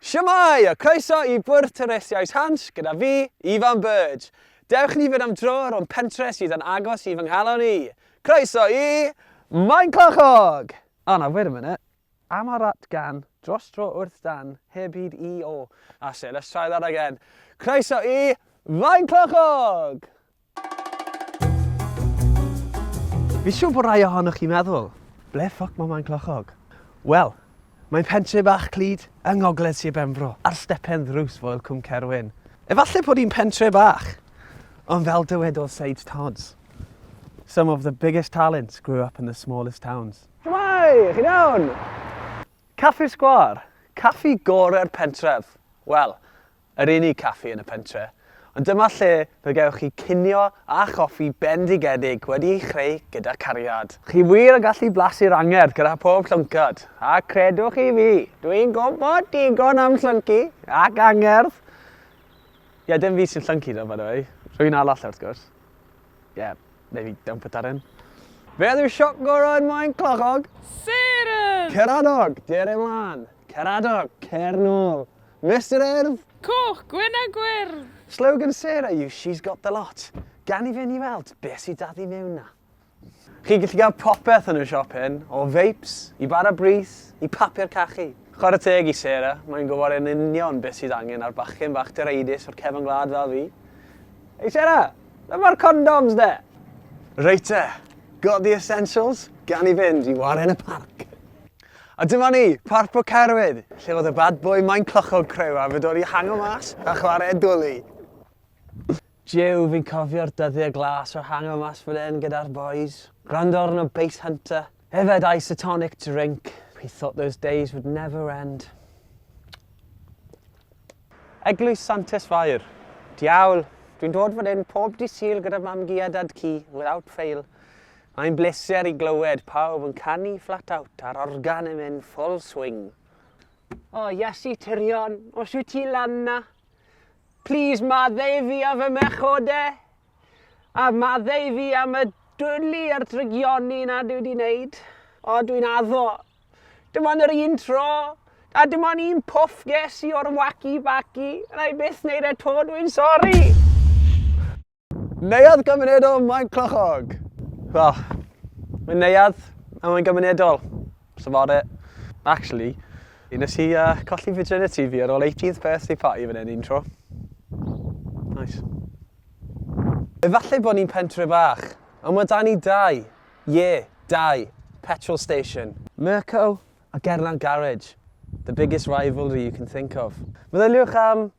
Shwmae! A croeso i Bwrdd Twristiaeth Hans gyda fi, Ifan Bird. Dewch ni fynd am dro rownd pentre sydd yn agos i fy nghalon i. Croeso i Maenclochog! O na, wait a minute. Am ar at gan, dros dro wrth dan, heb hyd i o. That's it, let's try that again. Croeso i Faenclochog! Fi siwr bod rai ohonoch chi'n meddwl, ble ffwc mae Maen Clochog? Wel, mae'n pentre bach clyd yng ngogledd Sir Benfro, ar stepen ddrws foel Cwm Cerwyn. Efallai bod hi'n pentre bach, ond fel dywedodd Sage Todds, Some of the biggest talents grew up in the smallest towns. Shwmae! Chi'n iawn? Caffi'r Sgwâr, caffi gorau'r pentref. Wel, Yr unig caffi yn y pentre'. Ond dyma lle fe gewch chi cinio a choffi bendigedig wedi'i chreu gyda cariad. Chi wir yn gallu blasu'r angerdd gyda phob llwncad, a credwch chi fi, dwi'n gwybod digon am llyncu ac angerdd! Ie, dim fi sy'n llyncu ddo, by the way. Rhywun arall wrth gwrs. Ie, neu fi, don't put that in. Beth yw siop gorau yn Maen Clochog? Seren! Ceranog! Dere mlan! Cer adar, cer nôl. Mister Urdd! Coch, gwyn a gwyrdd! Slogan Sarah yw She's got the lot. Gawn ni fynd i weld beth sydd 'da ddu mewn 'na. Chi'n gallu cael popeth yn y siop hyn, o feips, i bara brith, i papur cachu. Chwarae teg i Sarah, mae'n gwybod yn union beth sydd angen ar bachgen fach direidus o'r cefn gwlad fel fi. Hei Sarah! Ble mae'r condoms de? Reit te, got the essentials? Gawn ni fynd i waren y parc. A dyma ni, Parc Pwll Cerwyd, lle fod y bad boy Maen Clochog Creu a fedor i hango mas a chwarae dwli. Jiw, fi'n cofio'r dyddiau glas o hango mas fan hyn gyda'r boys. Gwrando arno Bass Hunter. Yfed isotonic drink. He thought those days would never end. Eglwys Santes Fair. Diawl, dwi'n dod fan hyn pob dydd Sul gyda mam-gu a dad-cu, without fail. Mae'n bleser i glywed pawb yn canu flat out a'r organ yn mynd full swing. O, oh, Iasu Tyrion, os wyt ti lan na, please maddau fi am fy mechode, a maddau fi am y dwli a'r drygioni na dwi wedi wneud. O, oh, dwi'n addo. Dim ond yr un tro, a dim ond un pwff ges i o'r wacky backy, a na i byth wneud e to, dwi'n sori! Neuadd gymunedol Maen Clochog! Wel, mae'n neuadd a mae'n gymunedol. That's about it. Actually, nes i uh, colli virginity fi ar ôl 18th birthday party fan hyn un tro. Nice. Efallai bod ni'n pentre bach, ond mae da ni dau, ie, yeah, dau, petrol station. Mirco a Gerlan Garage, the biggest rivalry you can think of. Meddyliwch am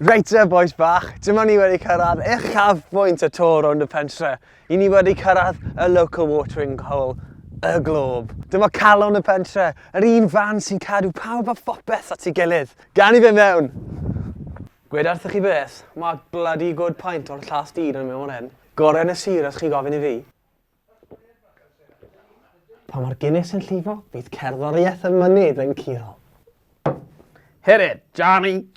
Reit te bois bach, dyma ni wedi cyrraedd uchaf bwynt y tor rownd y pentre. I ni wedi cyrraedd y local watering hole, y glob. Dyma calon y pentre, yr un fan sy'n cadw pawb a phopeth at ei gilydd. Gan i fe mewn! Gwed wrthych chi beth, mae bloody good pint o'r llast dyn yn mewn fan hyn. Gorau yn y sir os chi'n gofyn i fi. Pa mor gynnes yn llifo, bydd cerddoriaeth y mynydd yn curo. Hit it, Johnny!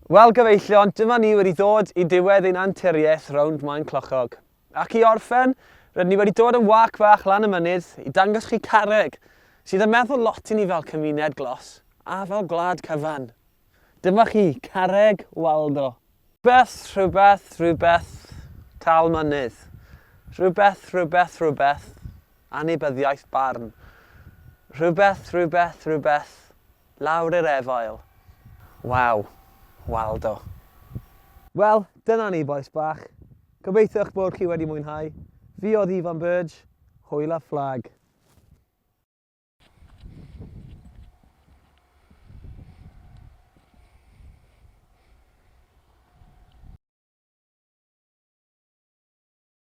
Wel gyfeillion, dyma ni wedi ddod i diwedd ein anturiaeth rownd Maen Clochog. Ac i orffen, rydyn ni wedi dod yn wâc fach lan y mynydd i dangos chi Carreg, sydd yn meddwl lot i ni fel cymuned glos a fel gwlad cyfan. Dyma chi, Carreg Waldo. Rhywbeth, rhywbeth, rhywbeth, tâl mynydd. Rhywbeth, rhywbeth, rhywbeth, anybyddiaeth barn. Rhywbeth, rhywbeth, rhywbeth, lawr i'r efail. Waw, Waldo. Wel, dyna ni, bois bach. Gobeithio eich bod chi wedi mwynhau. Fi oedd Ifan Burge, hwyl a fflag.